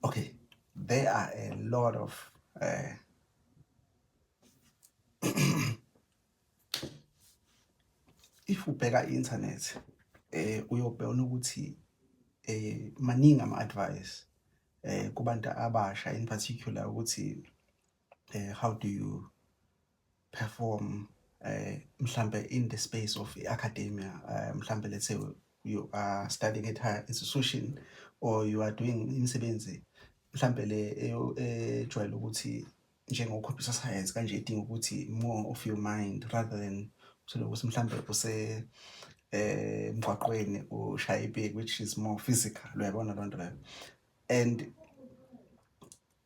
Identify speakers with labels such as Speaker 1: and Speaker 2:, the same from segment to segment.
Speaker 1: Okay, there are a lot of uh, if ubheka i-internet eh uyobheka ukuthi eh maningi ama-advice eh kubantu abasha in particular ukuthi uh, how do you perform uh, mhlambe in the space of academia uh, mhlambe let's say you are studying at higher institution or you are doing imisebenzi mhlambe le ejwayele ukuthi njengo-computer science kanje idinga ukuthi more of your mind rather than uthole ukuthi mhlambe use eh emgwaqweni ushaya ibheki which is more physical uyabona loo nto leyo and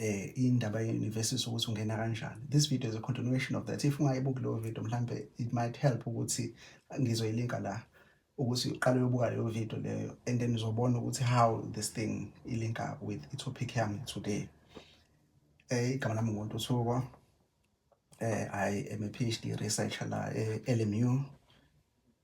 Speaker 1: eh indaba ye university ukuthi ungena kanjani this video is a continuation of that if ungayibuki leyo video mhlambe it might help ukuthi ngizoyilinka la ukuthi uqale uyobuka leyo video leyo and then uzobona ukuthi how this thing ilink up with i topic yami today eh igama lami ngumuntu usuko eh i am a phd researcher la e-LMU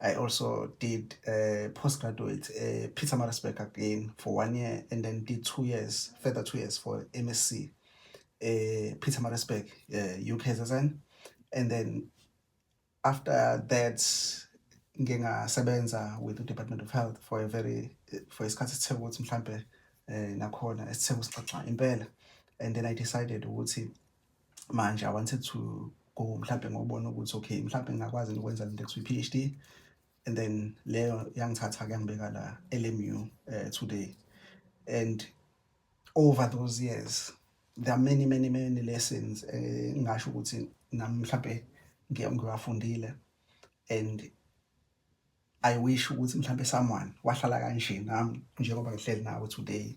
Speaker 1: I also did uh, postgraduate at uh, Peter Marisburg again for one year and then did two years, further two years for MSc, uh, Peter Marisburg, uh, UKZN. And then after that, ngingasebenza with the Department of Health for a very, for isikhathi esithe ukuthi mhlampe eh, nakhona esithe kusixoxa impela. And then I decided ukuthi manje i wanted to go mhlawumbe ngobona ukuthi okay mhlawumbe ngingakwazi ukwenza lento ekuthiwa i-phd and then leyo yangithatha kuyangibeka la lmu uh, eh, today and over those years there are many many many lessons eh, ngingasho uh, ukuthi nami mhlawumbe ngiwafundile and i wish ukuthi mhlawumbe someone wahlala kanje nami njengoba ngihleli nawe today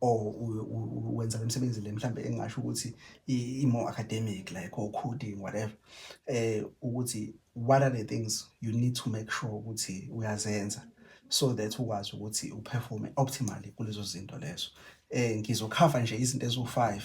Speaker 1: or wenza le msebenzi le mhlambe engingasho ukuthi i-more academic like or coding whatever eh ukuthi what are the things you need to make sure ukuthi uyazenza so that ukwazi ukuthi uperforme optimally kulezo zinto lezo eh ngizokhava nje izinto eziwu-five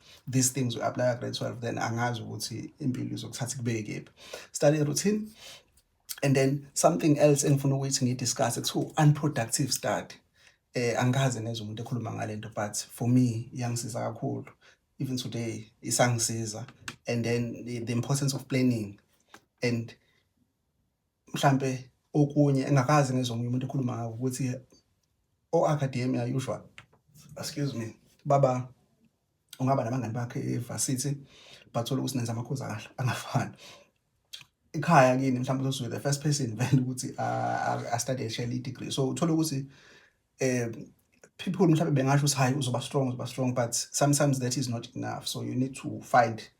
Speaker 1: these things we apply grade 12 then angazi ukuthi impilo izokuthatha kubeke kephi study routine and then something else engifuna ukuthi ngidiscuss kuthiwa unproductive study eh angikaze nezwe umuntu ekhuluma ngalento but for me yangisiza kakhulu even today isangisiza and then the, the importance of planning and mhlampe okunye engakaze ngizwe omunye umuntu ekhuluma ngako ukuthi o-academia usual excuse me baba ungaba nabangani bakhe evarsity bathola ukuthi nenza amakhozi akahle angafani ikhaya kini mhlawumbe uzozwe the first person vele ukuthi astudy eshele i-degree so uthole ukuthi um people mhlawumbe bengasho ukuthi hhayi uzoba strong uzoba strong but sometimes that is not enough so you need to find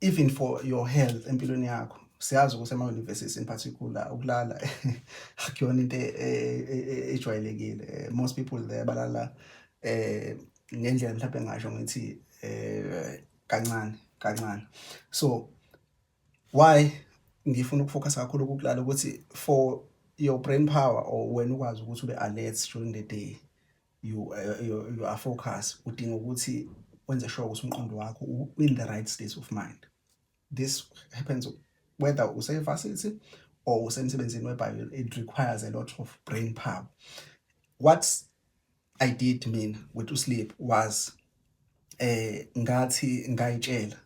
Speaker 1: even for your health empilweni yakho siyazi ukuthi ama-university in particular ukulala akuyona into e, e, e, ejwayelekile eh, most people there balala eh ngendlela mhlawumbe ngasho ngithi eh kancane kancane so why ngifuna ukufocus kakhulu kukulala ukuthi for your brain power or wena ukwazi ukuthi ube alert during the day you, uh, you, you are focus udinga ukuthi wenze sure ukuthi umqondo wakho in the right state of mind this happens whether usevarsity or usemsebenzini webhayo it requires a lot of brain power what i did mina with to sleep was eh ngathi ngayitshela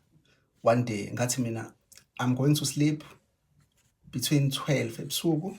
Speaker 1: one day ngathi mina i'm going to sleep between 12 ebusuku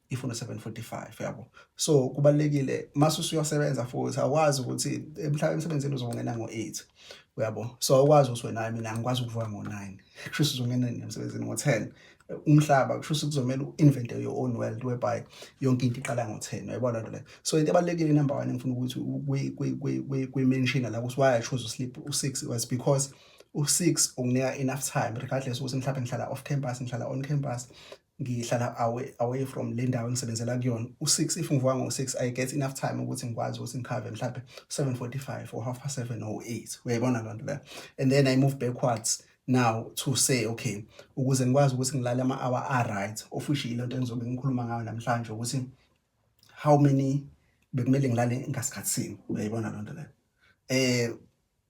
Speaker 1: ifuna 745 yabo so kubalekile mase usuyosebenza futhi awukwazi ukuthi emhlawumbe emsebenzini uzongena ngo8 uyabo so awukwazi ukuthi wena mina angikwazi ukuvuka ngo9 kusho uzongena emsebenzini ngo10 umhlaba kusho ukuthi kuzomela u-invente your own world whereby yonke into iqala ngo-ten uyayibona lento leyo so into ebalulekile number one engifuna ukuthi kwi-mention la ukuthi why i chose usleep u-six was because u-six unginika enough time regardless ukuthi mhlawumbe ngihlala off campus ngihlala on campus ngihlala away away from le ndawo engisebenzela kuyona u6 if ngivuka ngo6 i get enough time ukuthi ngikwazi ukuthi ngikhave mhlawumbe 7:45 or half past 7 or 8 uyayibona loo nto leyo and then i move backwards now to say okay ukuze ngikwazi ukuthi ngilale ama hour a right of which ilento engizobe ngikhuluma ngayo namhlanje ukuthi how many bekumele ngilale ngasikhatsini uyayibona loo nto leyo eh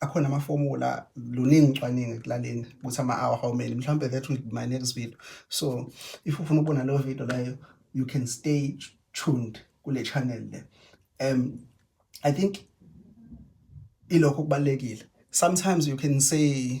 Speaker 1: akhona amafomula luningi ucwaningo ekulaleni ukuthi ama-hour how many mhlawumbe that will be my next video so if ufuna ukubona leyo video leyo you can stay tuned kule channel le um i think ilokho kubalulekile sometimes you can say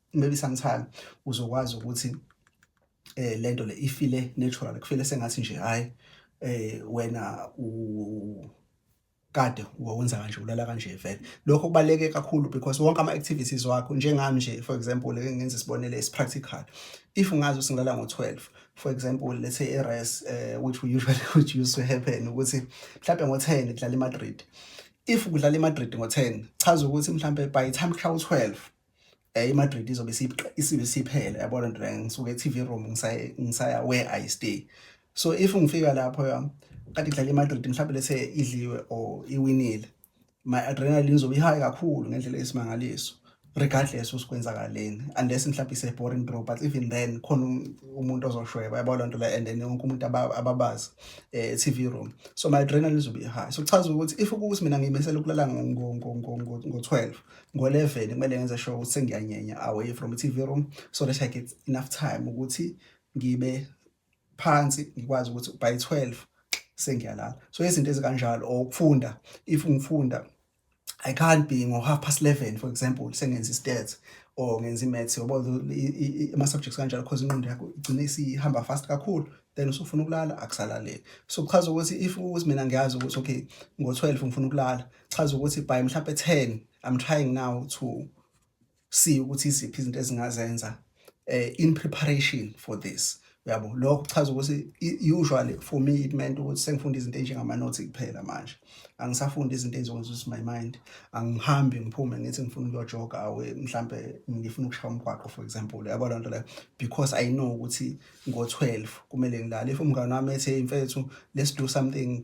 Speaker 1: maybe sometime uzokwazi ukuthi eh lento le ifile natural kufile sengathi nje hayi eh wena u kade wawenza kanje ulala kanje vele lokho kubaleke kakhulu because wonke ama activities wakho njengami nje for example leke ngenza isibonelo is practical if ngazi usingilala ngo 12 for example let's say a race uh, eh, which we usually which used to happen ukuthi mhlawumbe ngo 10 kudlala iMadrid if kudlala iMadrid ngo 10 chaza ukuthi mhlawumbe by the time kushawa u 12 eh iMadrid izobe isibe siphele yabona nto la ngisuke e-TV room ngisaya ngisaya where I stay so if ngifika lapho ya kade kudlala iMadrid mhlawumbe lese idliwe or iwinile my adrenaline izobe ihigh kakhulu ngendlela esimangaliso regardless usikwenzakaleni unless mhlawumbe ise boring draw but even then khona um, umuntu ozoshweba yabo lonto la and then wonke umuntu ababazi eh TV room so my adrenaline izobe high so kuchaza ukuthi if ukuthi mina ngimesela ukulala ngo ngo ngo ngo 12 ngo-11 kumele ngenze sure ukuthi sengiyanyenya away from i-tv room so that i get enough time ukuthi ngibe phansi ngikwazi ukuthi by 12 sengiyalala so izinto ezikanjalo or ukufunda if ngifunda I can't be ngo half past 11 for example sengenza istats or ngenza imaths ngoba ama subjects kanjalo because inqondo yakho igcina isihamba fast kakhulu then usufuna ukulala akusalaleki so kuchaza ukuthi if ukuthi mina ngiyazi ukuthi okay ngo-12 ngifuna ukulala chaza ukuthi by mhlampe 10 i'm trying now to see ukuthi iziphi izinto ezingazenza eh, in preparation for this uyabo lokho kuchaza ukuthi usually for me it meant ukuthi sengifunda izinto enjengamanothi kuphela manje angisafunda izinto ezizokwenza ukuthi my mind angihambi ngiphume ngithi ngifuna ukuyojoga awe mhlampe ngifuna ukushaya umgwaqo for example yabo loo nto leyo because i know ukuthi ngo-12 kumele ngilale if umngane wami ethe mfethu let's do something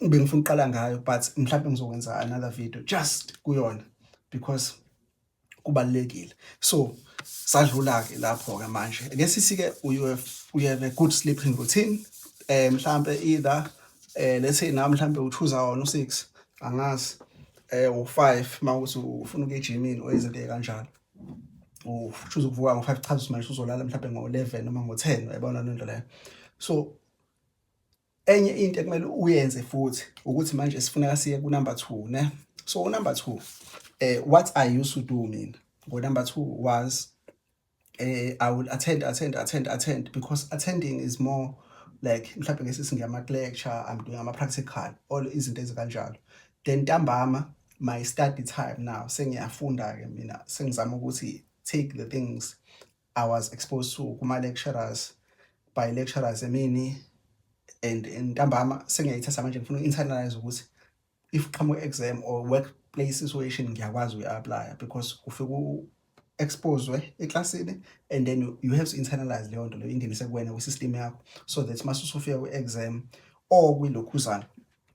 Speaker 1: bengifuna uqala ngayo but mhlawumbe ngizokwenza another video just kuyona because kubalekile so sadlula ke lapho ke manje ke sisi ke we have, we have a good sleeping routine eh mhlambe either eh let's say na mhlambe u 2 hour no 6 angazi eh u 5 mawukuthi ufuna ukuye gymini oyizinto kanjalo u choose ukuvuka ngo 5 cha manje uzolala mhlambe ngo 11 noma ngo 10 uyabona lento leyo so Enye into ekumele uyenze futhi ukuthi manje sifuneka siye ku number 2 ne. So u number 2 eh what I used to do mina ngo number 2 was eh I will attend attend attend attend because attending is more like mhlawumbe ngeke singama lecture I'm doing ama practical all izinto ezikanjalo then ntambama my study time now sengiyafunda ke mina sengizama ukuthi take the things I was exposed to kuma lecturers by lecturers emini and ntambama sengiyayithatha manje ngifuna uinternalize ukuthi if qhamuka exam or workplace situation ngiyakwazi uyi-apply because ufike exposwe eklasini and then you have to internalize leyo nto leyo ingenise kuwena kwi-system yakho so that mase usufika kwi-exam or kwilokhuzana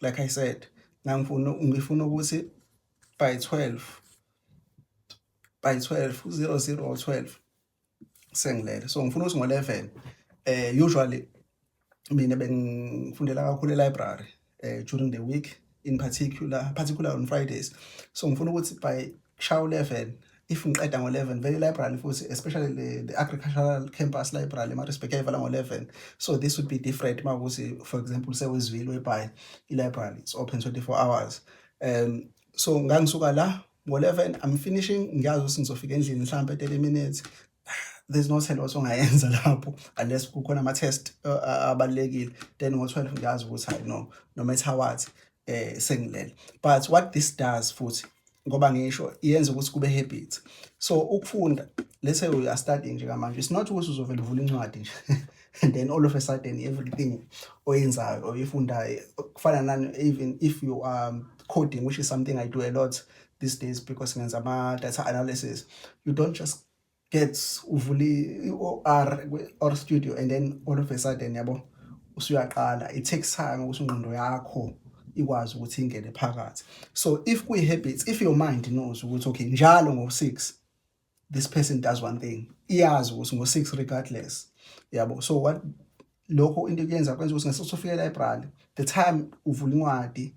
Speaker 1: like I said ngangifuna ngifuna ukuthi by 12 by 12 00 or 12 sengilele so ngifuna ukuthi ngo-11 eh usually mina bengifundela kakhulu e-library eh during the week in particular particular on Fridays so ngifuna ukuthi by shawu 11 if ngiqeda ngo-11 vele library futhi especially the, the agricultural campus library emarisbek yayivala ngo-11 so this would be different uma ukuthi for example sewezwile webhayi i-library it's open 24 hours um so ngangisuka la ngo-11 i'm finishing ngiyazi ukuthi ngizofika endlini mhlawumbe 30 minutes there's no tell also ngayenza lapho unless kukhona ama-test uh, uh, abalulekile then ngo-12 ngiyazi ukuthi hayi no no matter what eh sengilele but what this does futhi ngoba ngisho yenza ukuthi kube habit so ukufunda let's say uya study nje kamanje it's not ukuthi uzovela uvula incwadi nje and then all of a sudden everything oyenzayo or ifundayo kufana nani even if you are um, coding which is something i do a lot these days because ngenza ama data analysis you don't just gets uvula i-OR or studio and then all of a sudden yabo usuyaqala it takes time ukuthi ingqondo yakho ikwazi ukuthi ingene phakathi so if kuyi habits if your mind knows ukuthi okay njalo ngo 6 this person does one thing iyazi ukuthi ngo 6 regardless yabo so what lokho into kuyenza kwenza ukuthi ngesikhathi ufika e-library the time uvula incwadi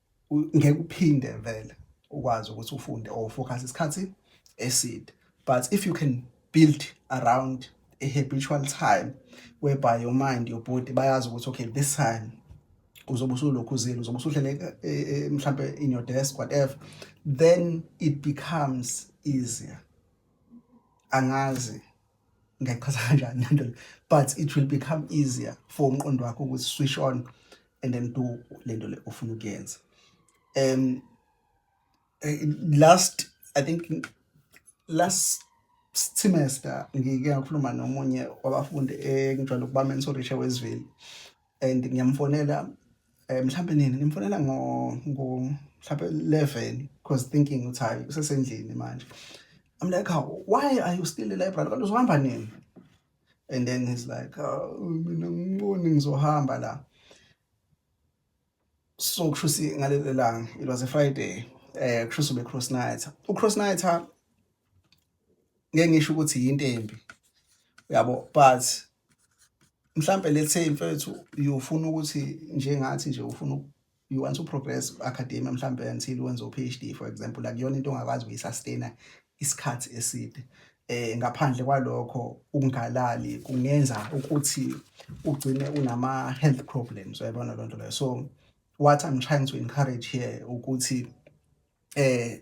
Speaker 1: ngeke uphinde vele ukwazi ukuthi ufunde or focus isikhathi eside but if you can build around a habitual time whereby your mind your body bayazi ukuthi okay this time uzobe usulokhu uzile uzobe usuhlele eh, eh, eh, mhlampe in your desk whatever then it becomes easier angazi ngiyachaza kanjani lento but it will become easier for umqondo wakho ukuthi switch on and then do lento le ofuna ukuyenza um eh, last i think last semester ngike ngakhuluma nomunye wabafundi engijwayele ukubamena usorisha weziveli and ngiyamfonela um mhlawumbe nini ngimfonela ngo mhlawumbe eleven because thinking ukuthi hhayi usesendlini manje I'm like, oh, why are you still in the library? Kodwa uzohamba nini? And then he's like, oh, mina ngiboni ngizohamba la. So kusho ukuthi ngalelo langa, it was a Friday. Eh kusho ukuthi cross night. U cross night ngeke ngisho ukuthi yinto embi. Uyabo, but mhlampe let's say mfethu uyofuna ukuthi njengathi nje ufuna you want to progress academia mhlampe until wenze u-PhD for example akuyona into ongakwazi ukuyisustain isikhathi eside eh ngaphandle kwalokho ukungalali kungenza ukuthi ugcine unama health problems uyabona lonto leyo so what i'm trying to encourage here ukuthi eh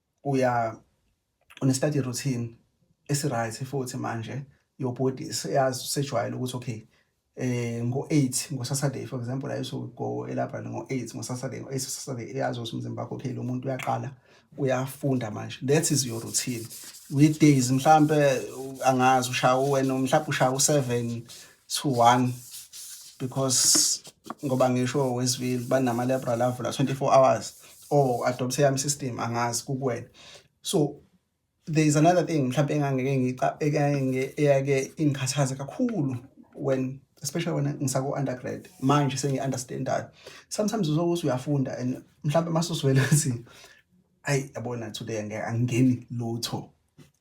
Speaker 1: uya une-study routine esi-right futhi manje your body seyazi usejwayele ukuthi okay eh ngo-eight ngo-saturday for example I used to go elabrary ngo-eight ngo-saturday ngo-eight saturday iyazi ukuthi umzimba wakho okay lo muntu uyaqala uyafunda manje that is your routine weekdays mhlampe angazi ushaya wena mhlawumbe ushaya u-seven to one because ngoba ngisho wesivile banama liberal avula 24 hours or adopthe yami system angazi kukwena so there is another thing mhlawumbe engangeke ngicabeke eyake ingikhathaze kakhulu when especially when ngisako undergrad manje sengi understandayo sometimes uzokuthi uyafunda and mhlawumbe masuzwele ukuthi ayi yabona today ngeke angeni lutho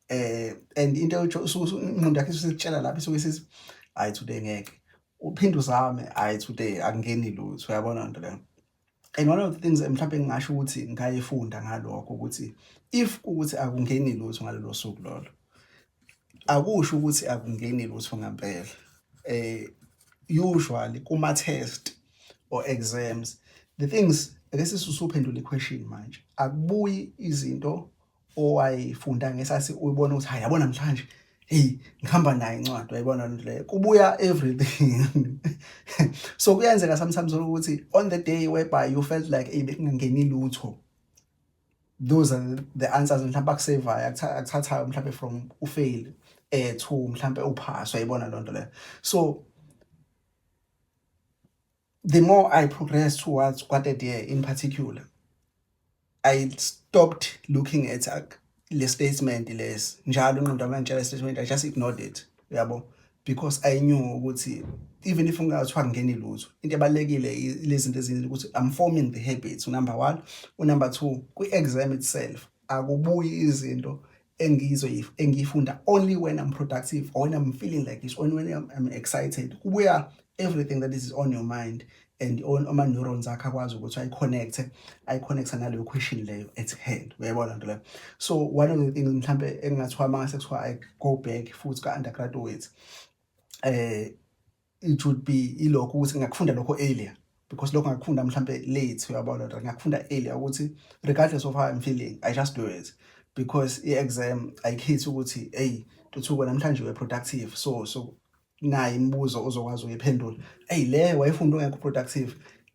Speaker 1: eh and into uthi ingqondo yakhe isikutshela lapho isuke isithi hayi today ngeke uphinde uzame hayi today akungeni lutho uyabona nto leyo and one of the things mhlawumbe ngingasho ukuthi ngayifunda ngalokho ukuthi if ukuthi akungeni lutho ngalelo suku lolo akusho ukuthi akungeni lutho ngempela eh usually kuma test or exams the things ake sisuphendula iquestion manje akubuyi izinto owayifunda ngesasi uyibona ukuthi hayi yabo namhlanje hey ngihamba naye incwadi wayibona lento leyo kubuya everything so kuyenzeka sometimes ukuthi on the day whereby you felt like hey bekungangeni lutho those are the answers mhlawumbe akusevayo akuthathayo mhlawumbe from ufail eh to mhlawumbe uphaswa yibona lonto leyo so the more I progressed towards Quartet Year in particular, I stopped looking at uh, le statement lesi njalo ingqondo yami yangitshela statement I just ignored it yabo because I knew ukuthi even if ungathiwa ngingeni lutho into ebalekile lezi zinto ezinye ukuthi I'm forming the habits number 1 u number 2 kwi exam itself akubuyi izinto engizo engiyifunda only when I'm productive or when I'm feeling like this only when I'm, I'm excited kubuya everything that is on your mind and on ama neurons akhe akwazi ukuthi ayi connect ayi connect naleyo question leyo at hand uyayibona nto leyo so one of the things mhlambe engingathiwa mangase kuthiwa i go back futhi ka undergraduate eh it would be ilokho ukuthi ngakufunda lokho earlier because lokho ngakufunda mhlambe late uyabona or ngakufunda earlier ukuthi regardless of how I'm feeling I just do it because i-exam ayikhethi ukuthi hey tuthuko namhlanje we productive so so nayi imibuzo ozokwazi uyiphendula hey le wayifunda ungekho productive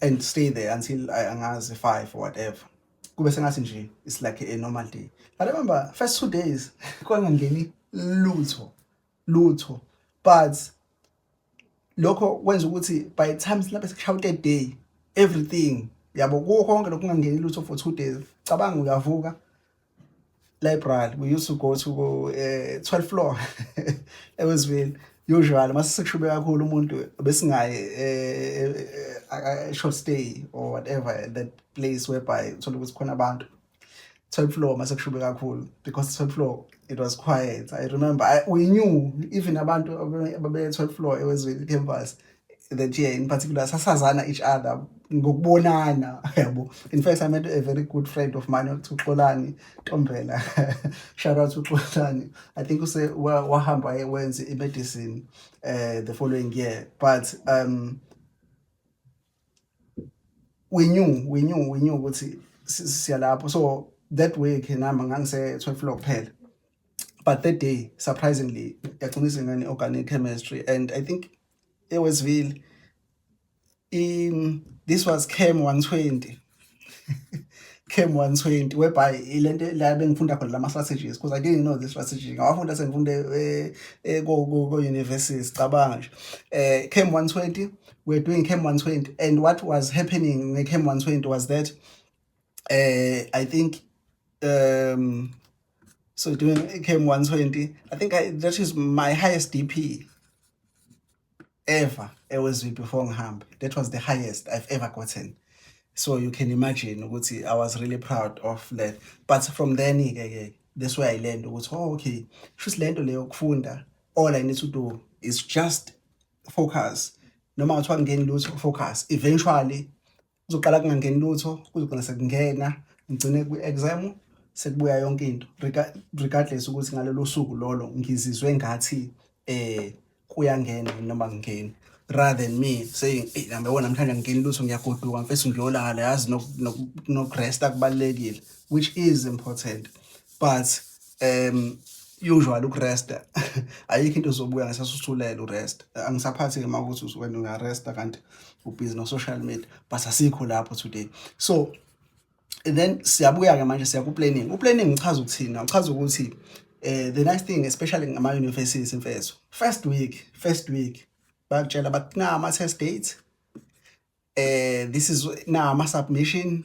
Speaker 1: and stay there until I angazi five or whatever kube sengathi nje it's like a normal day i remember first two days kwangangeni lutho lutho but lokho kwenza ukuthi by the time silapha sikushawute day everything yabo kuwo konke lokungangeni lutho for two days cabanga uyavuka library we used to go to uh, eh, 12 floor ewesville usually mase sekushube kakhulu umuntu besingaye eh, eh, short stay or whatever at that place whereby uthola ukuthi khona abantu 12 floor mase kushube kakhulu because 12 floor it was quiet i remember I, we knew even abantu ababe 12 floor ewezville campus that yeah in particular sasazana each other ngokubonana yabo in fact i met a very good friend of mine othi uxolani ntombela shout out uxolani i think use wahamba wenze i-medicine uh, the following year but um we knew we knew we knew ukuthi siyalapho so that way ke nami ngangise 12 floor kuphela but that day surprisingly yagcina isingane organic chemistry and i think eWestville in this was cam 120 cam 120 whereby ilento la bengifunda khona lama strategies because i didn't know this strategy ngawafunda sengifunda eh, eh, ko ko university sicabanga nje eh cam 120 we're doing cam 120 and what was happening ngecam 120 was that eh i think um so doing km 120 i think I, that is my highest dp ever ewezwi before ngihamba that was the highest i've ever gotten so you can imagine ukuthi i was really proud of that but from then ke ke this way i learned ukuthi oh okay shuthi lento leyo kufunda all i need to do is just focus noma kuthiwa ngingeni lutho focus eventually kuzoqala kungangeni lutho kuzogcina sekungena ngigcine kwi-exam sekubuya yonke into regardless ukuthi ngalelo suku lolo ngizizwe ngathi eh kuyangena noma ngingeni rather than me saying hey nami wona namhlanje ngingeni lutho ngiyagoduka mfethu ngiyolala yazi nokuresta kubalekile which is important but um usual ukuresta ayikho into zobuya ngesasusulela uresta angisaphathi-ke uma ukuthi wena uyaresta kanti ubhizi no-social media but asikho lapho today so then siyabuya-ke manje siya ku-planning u-planning ngichaza ukuthini ngichaza ukuthi um the nice thing especially ngama-universities imfeso first week first week bakutshela bathi na ama-test date um this is na ama-submission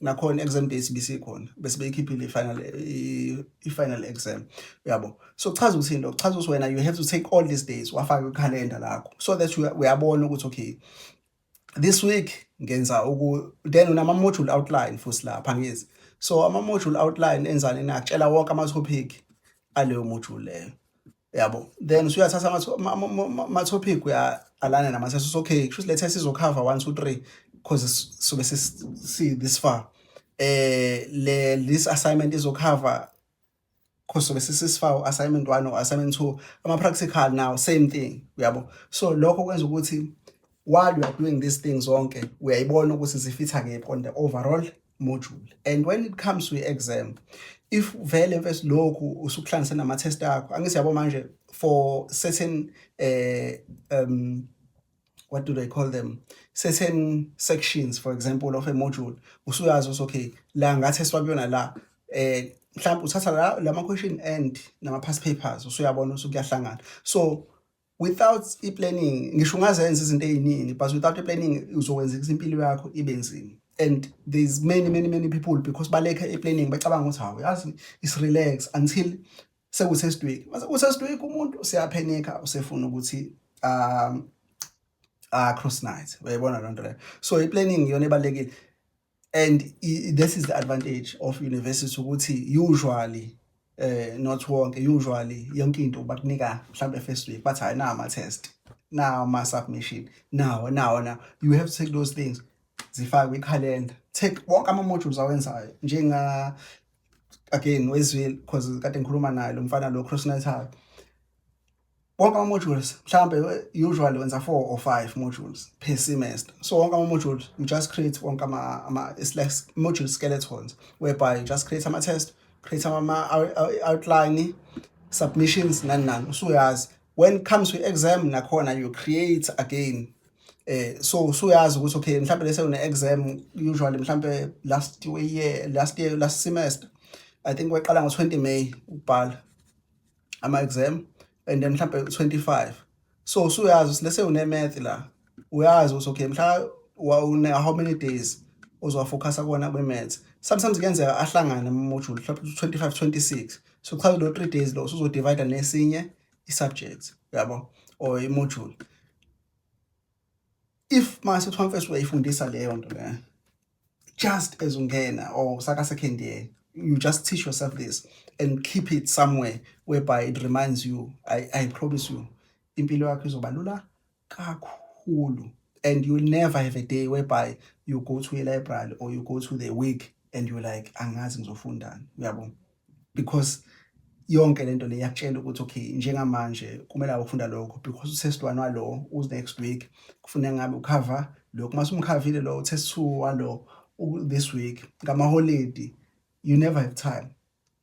Speaker 1: nakhona exam days bisikhona bese beyikhiphile i-final i-final exam uyabo so kuchaza ukuthi into kuchaza ukuthi wena you have to take all these days wafaka ikhalenda lakho so that uyabona ukuthi okay this week ngenza uku then unama module outline futhi lapha ngizi so ama module outline enzani nakutshela wonke ama topic aleyo module leyo yabo then usuyathatha ama-topic uyalana nama sesithi okay kusho ukuthi le test izokhava one two three because sobe si this far eh le this assignment izokhava because sobe sisisifa assignment 1 or assignment 2 ama practical now same thing uyabo so lokho kwenza ukuthi while you are doing these things zonke uyayibona ukuthi zifitha kephi on the overall module and when it comes to exam if vele mfethu lokhu usukuhlanganise nama test akho angithi yabo manje for certain uh, um what do they call them certain sections for example of a module usuyazi ukuthi okay la ngathi eswakuyona la eh mhlawumbe uthatha la lama question and nama past papers usuyabona ukuthi kuyahlangana so without i-planning ngisho ungazenza izinto ey'ningi but without i-planning uzokwenza ukuthi impilo yakho ibe nzima and there's many many many people because balekha i-planning bacabanga ukuthi hawu yazi is relax until sekusesidweki mase kusesidweki umuntu siyaphenika usefuna ukuthi um uh, cross night uyayibona loo nto leyo so i-planning iyona ebalulekile and this is the advantage of university ukuthi usually eh not wonke usually yonke into bakunika mhlambe first week bathi hayi na ama test na ama submission nawo nawo na you have to take those things zifake kwi calendar take wonke ama modules awenzayo njenga again wezwile because kade ngikhuluma naye lo mfana lo cross natal wonke ama-modules mhlawumbe eh, usually wenza four or five modules per semester so wonke ama-modules you just create wonke ama it's like module skeletons whereby you just create ama-test create ama-outline submissions nani nani usuyazi when it comes to exam nakhona you create again eh so usuyazi ukuthi okay mhlawumbe lese une exam usually mhlawumbe last year last year last semester i think weqala ngo 20 May ubhala ama-exam and then mhlawumbe 25 so usuyazi ukuthi lese une-math la uyazi ukuthi okay mhla une how many days uzowafocasa kona kwi-maths sometimes kuyenzeka ahlangane ama-module mhlawumbe 25 26 so kuchaza lo three days lo usuzodivida nesinye i-subject yabo or i-module if mase kuthiwa mfethu uyayifundisa leyo nto leyo just as ungena or saka second year you just teach yourself this and keep it somewhere whereby it reminds you i, I promise you impilo yakho izoba lula kakhulu and you'll never have a day whereby you go to a library or you go to the week and you're like angazi ngizofundani uyabona because yonke lento le yakutshela ukuthi okay njengamanje kumele awufunda lokho because usesitwana walo us next week kufuna ngabe ukhava lokho mase umkhavile lo uthe su walo this week ngama holiday you never have time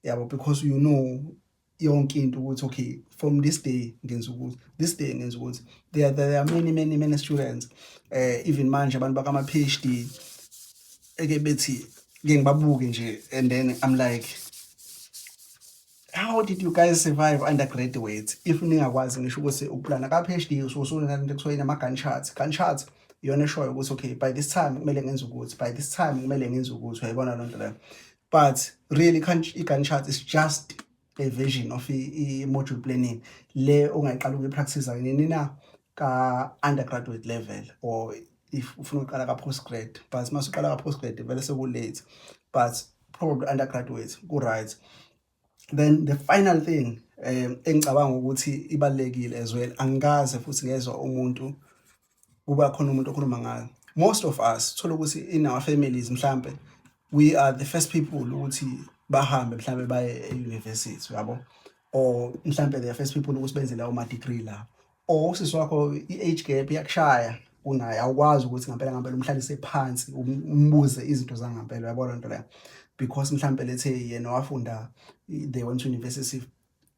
Speaker 1: yabo because you know yonke into ukuthi okay from this day ngenza ukuthi this day ngenza ukuthi there, there are many many many students uh, even manje abantu bakama PhD eke bethi ngeke ngibabuke nje and then I'm like how did you guys survive undergraduate if ningakwazi ngisho ukuthi ukuplana ka PhD usuke usunale into ekuthiwa inama gun charts gun charts iyona eshoyo ukuthi okay by this time kumele ngenze ukuthi by this time kumele ngenze ukuthi uyayibona loo nto leyo but really i-gun chart is just version of i-module planning le ongayiqala ukuyipractice nini na ka-undergraduate level or if ufuna ukuqala ka-postgrad but uma usuqala ka-postgrad vele sekulate but probably undergraduate ku-right then the final thing um engicabanga ukuthi ibalulekile as well angikaze futhi ngezwa umuntu kuba khona umuntu okhuluma ngayo most of us thola ukuthi in our families mhlambe we are the first people ukuthi bahambe mhlambe baye e-university yabo or mhlambe the first people ukuthi benze lawo ma-degree la or usisi wakho i-age gap iyakushaya unaye awukwazi ukuthi ngampela ngampela umhlalise phansi um-, umbuze izinto zangampela yabo loo nto leyo because mhlambe lethe yena wafunda they went to university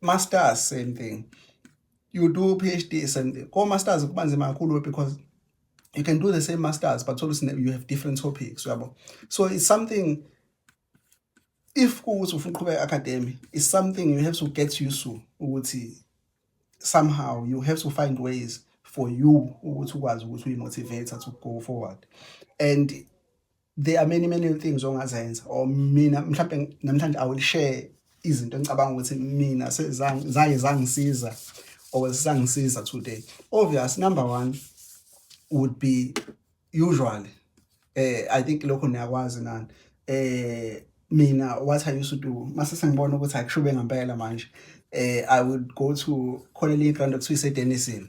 Speaker 1: masters same thing you do phd same thing ko masters kuba nzima kakhulu because you can do the same masters but always you have different topics uyabo so it's something if kuwukuthi ufuna uqhubeka academy is something you have to get used to ukuthi somehow you have to find ways for you ukuthi ukwazi ukuthi uyi-motivator to go forward and there are many many things ongazenza or mina mhlawumbe namhlanje i will share izinto engicabanga ukuthi mina zaye zangisiza or zisangisiza today obvious number one would be usually eh i think lokho niyakwazi nani eh mina what i used to do mase sengibona ukuthi akushube ngempela manje eh i would go to khona le ground okuthiwa iseDenison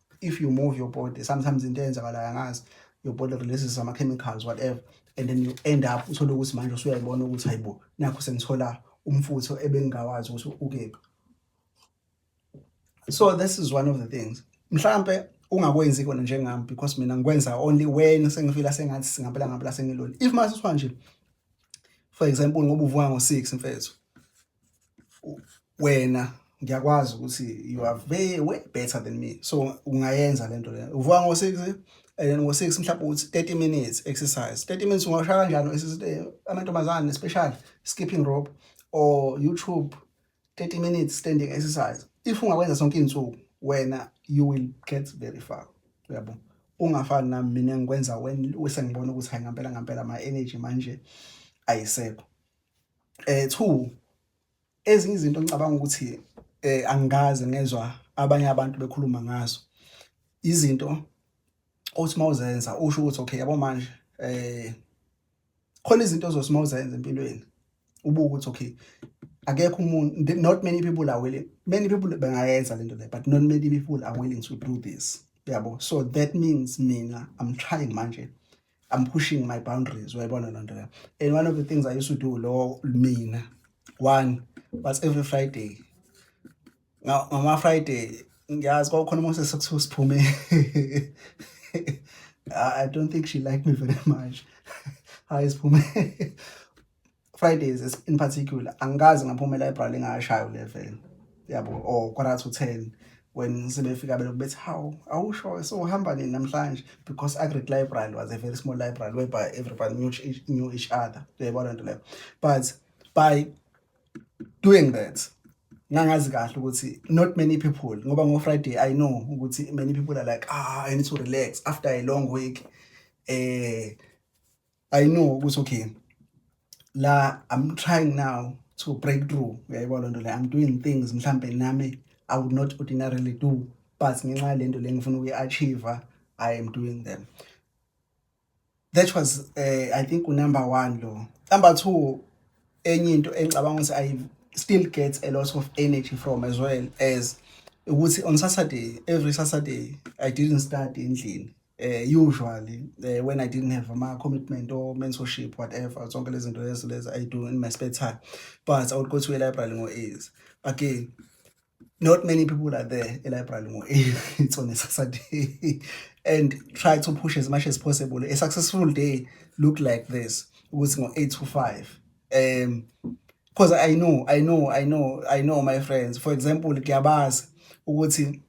Speaker 1: if you move your body sometimes into eyenzakalayo angazi your body releases some chemicals whatever and then you end up uthole ukuthi manje usuyayibona ukuthi hayibo nakho sengithola umfutho ebengingawazi ukuthi ukephi so this is one of the things mhlambe ungakwenzi kona njengami because mina ngikwenza only when sengifila sengathi singampela ngampela sengilona if masiswa nje for example ngoba uvuka ngo-6 mfethu wena ngiyakwazi ukuthi you are way way better than me so ungayenza lento le uvuka ngo 6 and then ngo 6 mhlawumbe uthi 30 minutes exercise 30 minutes ungashaya kanjani exercise amantombazane special skipping rope or youtube 30 minutes standing exercise if ungakwenza sonke insuku wena you will get very far uyabo ungafani nami mina ngikwenza when usengibona ukuthi hayi ngampela ngampela my energy manje ayisekho eh two ezinye izinto ngicabanga ukuthi eh angikaze ngezwa abanye abantu bekhuluma ngazo izinto othi mawuzenza usho ukuthi okay yabo manje eh khona izinto ozothi mawuzenza empilweni ubuke ukuthi okay akekho umuntu not many people are willing many people bengayenza lento le but not many people are willing to do this yabo so that means mina i'm trying manje I'm pushing my boundaries uyayibona loo nto leyo and one of the things I used to do lowo mina one was every Friday ngama-Friday ngiyazi kwakukhona uMoses sekuthiwa siphume I don't think she liked me very much hayi siphume Fridays in particular angikaze ngaphuma e-library ngashaya u-11 yabo or quarter to 10 when sebefika belokhu bethi hawu awusho sohamba nini namhlanje because agric library was a very small library whereby everybody knew each, knew each other uyayibona nto leyo but by doing that ngangazi kahle ukuthi not many people ngoba ngo-friday i know ukuthi many people are like ah i need to relax after a long week eh I know ukuthi okay la I'm trying now to break through uyayibona loo nto leyo I'm doing things mhlampe nami I would not ordinarily do but ngenxa yalento le ngifuna ukuyi-achieve I am doing them that was uh, I think unumber one lo number two enye into engicabanga ukuthi I still get a lot of energy from as well as ukuthi on Saturday every Saturday I didn't study endlini eh usually eh, when i didn't have ama commitment or mentorship whatever zonke lezi zinto lezi lezi i do in my spare time but i would go to a library ngo is again not many people are there a library ngo it's on a saturday and try to push as much as possible a successful day look like this ukuthi ngo 8 to 5 um because i know i know i know i know my friends for example kuyabazi ukuthi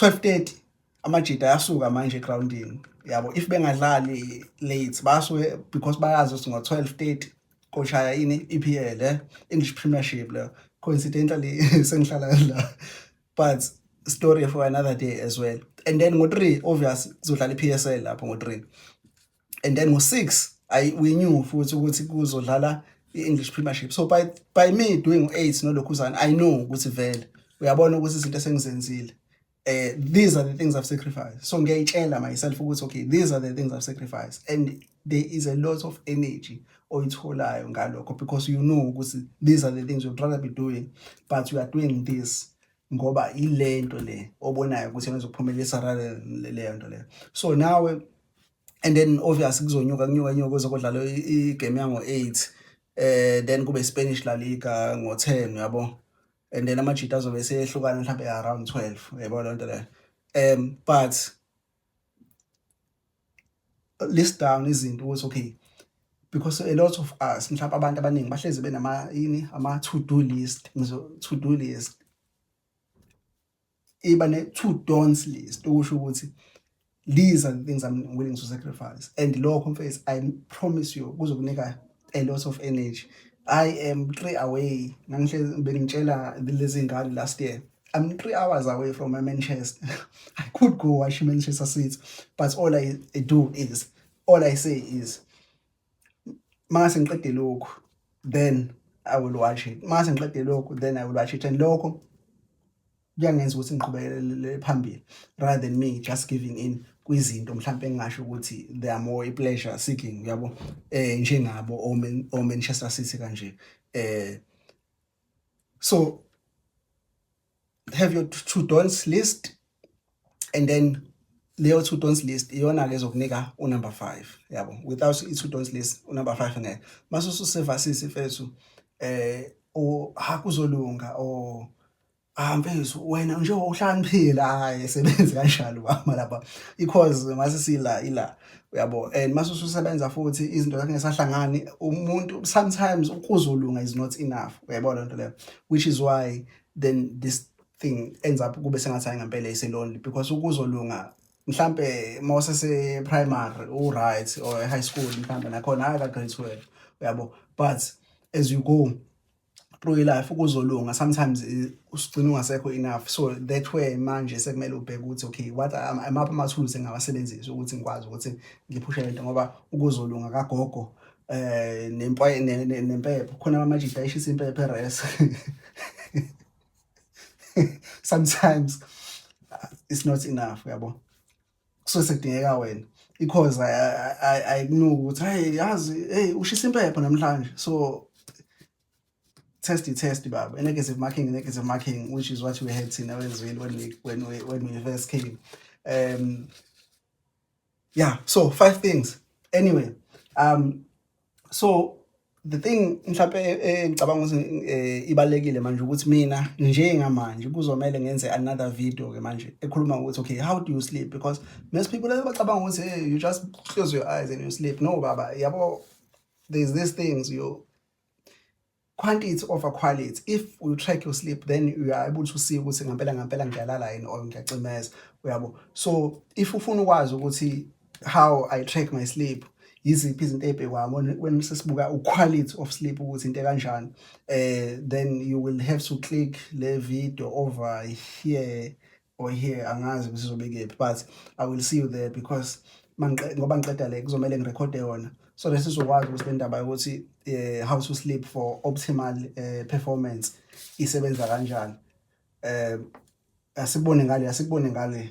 Speaker 1: 12:30 amajita ayasuka manje egroundini yabo if bengadlali late basuke because bayazi ukuthi ngo-12:30 koshaya ini i-EPL eh English Premiership le coincidentally sengihlala la but story for another day as well and then ngo-3 obvious kuzodlala i-PSL lapho ngo-3 and then ngo-6 ayi winyiwe futhi ukuthi kuzodlala i-english premiership so by, by me doing u-eight nolokhuzane i know ukuthi vele uyabona ukuthi izinto esengizenzile eh these are the things I've sacrificed so ngiyayitshela myself ukuthi okay these are the things I've sacrificed and there is a lot of energy oyitholayo ngalokho because you know ukuthi these are the things you'd rather be doing but you are doing this ngoba yile nto le obonayo ukuthi yenza ukuphumelelisa leyo nto leyo so nawe and then obvious kuzonyuka kunyuka nyuka kuzokudlala igame yango-eight eh then kube Spanish La Liga ngo-10 yabo and then amajita azobe seyehlukana mhlawumbe around 12 yabo lento leyo um but list down izinto ukuthi okay because a lot of us mhlawumbe abantu abaningi bahlezi benama yini ama to do list ngizo to do list iba ne to don'ts list okusho ukuthi these are the things I'm willing to sacrifice and lokho mfethu I promise you kuzokunika a lot of energy i am three away ngangihlezi bengitshela lezi ngane last year I'm three hours away from my Manchester. I could go watch Manchester City, but all I do is, all I say is, mase ngiqede lokhu, then I will watch it. Mase ngiqede lokhu, then I will watch it. And lokho kuyangenza ukuthi ngiqhubekele phambili rather than me just giving in kwizinto mhlawumbe engingasho ukuthi they are more pleasure seeking uyabo eh njengabo o Manchester City kanje eh so have your two dons list and then leyo two dons list iyona ke zokunika u number 5 yabo without i two dons list u number 5 ngeke mase ususevasisi mfethu eh o hakuzolunga o Ah mfethu wena nje uhlaniphila hayi sebenzi kanjalo bama lapha because mase sila ila uyabo and mase ususebenza futhi izinto zakhe ngesahlangani umuntu sometimes ukuzolunga is not enough uyayibona lento leyo which is why then this thing ends up kube sengathi hayi ngempela is lonely because ukuzolunga mhlambe mose se primary u right or high school mhlambe nakhona hayi ka grade 12 uyabo but as you go through life kuzolunga sometimes eh, usigcina ungasekho enough so that way manje sekumele ubheke ukuthi okay what amapha amathuluzi engingawasebenzisa ukuthi ngikwazi ukuthi ngiphushe lento ngoba ukuzolunga kagogo eh nempoye nempepho khona amajita eshisa impepho eres sometimes it's not enough yabo kusuke sekudingeka wena because ayikunuki ukuthi hayi yazi hey ushisa impepho namhlanje so test test baba a negative marking a negative marking which is what we had thina wezwini when we when we when we first came um yeah so five things anyway um so the thing mhlawumbe eh, eh, ngicabanga ukuthi eh, ibalekile manje ukuthi mina njengamanje kuzomele ngenze another video ke manje ekhuluma ukuthi okay how do you sleep because most people bacabanga ukuthi hey you just close your eyes and you sleep no baba yabo there's these things you quantity over quality if you track your sleep then you are able to see ukuthi ngampela ngampela ngiyalala yini or ngiyacimeza uyabo so if ufuna ukwazi ukuthi how i track my sleep yiziphi izinto ezibhekwa when sesibuka uquality of sleep ukuthi into kanjani eh then you will have to click le video over here or here angazi ukuthi sizobe kephi but i will see you there because ngoba ngiqeda le kuzomele ngirekhode yona so lesi sizokwazi ukuthi le ndaba yokuthi um how to sleep for optimal um performance isebenza kanjani um asikubone ngale asikubone ngale